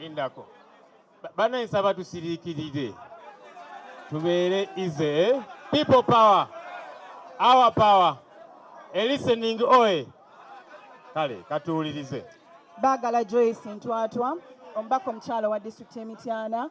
lindako bana ensaba tusirikirire tubeere ize eh? people power our power elistening oe kale katuwulirize bagala joyce ntwatwa omubaka omukyalo wa disitulikiti y'emityana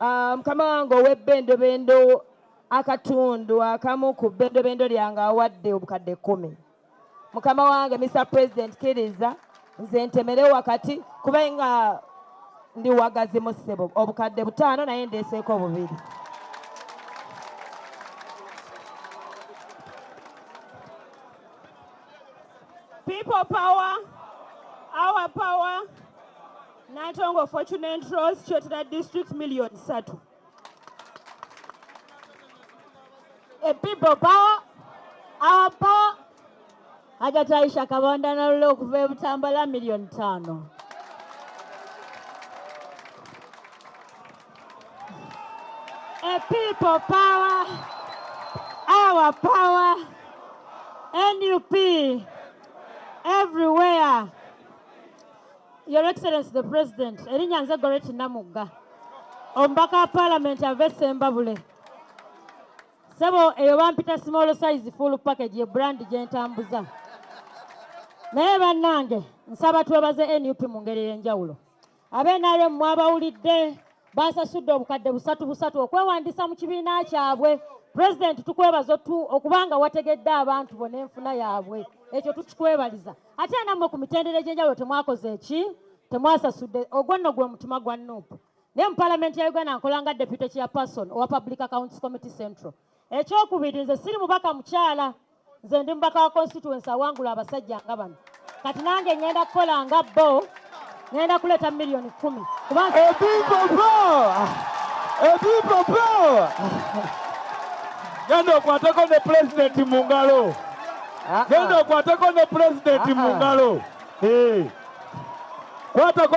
Ah, mukama wange ow'ebbendobendo akatundu akamu ku bbendobendo lyange awadde obukadde kkumi mukama wange mr president kiriza nze ntemere wakati kuba nga ndi wagazi mu ssebo obukadde butaano naye ndeeseeko bubiri people power our power Nantongo Fortunate Rose Kyotera District Million Satu. A people power, our power. Hajati Aisha Kabonda na lule okuva ebutambala million tano. A people power, our power. NUP everywhere. Your Excellency the President, erinnya nze Goreti Namugga, omubaka wa Palamenti ava e Ssembabule. Ssebo eyo bampita small size full package ye brand gye ntambuza. Naye bannange nsaba twebaze nup mu ngeri ey'enjawulo. Abe-NRM mwabawulidde baasasudde obukadde busatu busatu okwewandiisa mu kibiina kyabwe. Pulezidenti tukwebaza okubanga wategedde abantu bo n'enfuna yaabwe. Ekyo tukikwebaliza. ate era nammwe ku mitendera egy'enjawulo temwakoze eki temwasasudde ogwo nno gwe mutima gwa nup naye mu palamenti ya uganda nkola nga deputy chairperson owa public accounts committee central ekyokubiri nze siri mubaka mukyala nze ndi mubaka wa constituency awangula abasajja nga bano kati nange ngenda kukola nga bo ngenda kuleeta miliyoni kumi genda okwateko ne pulezidenti mu ngalo genda okwateko ne pulezidenti mu ngalo kwatako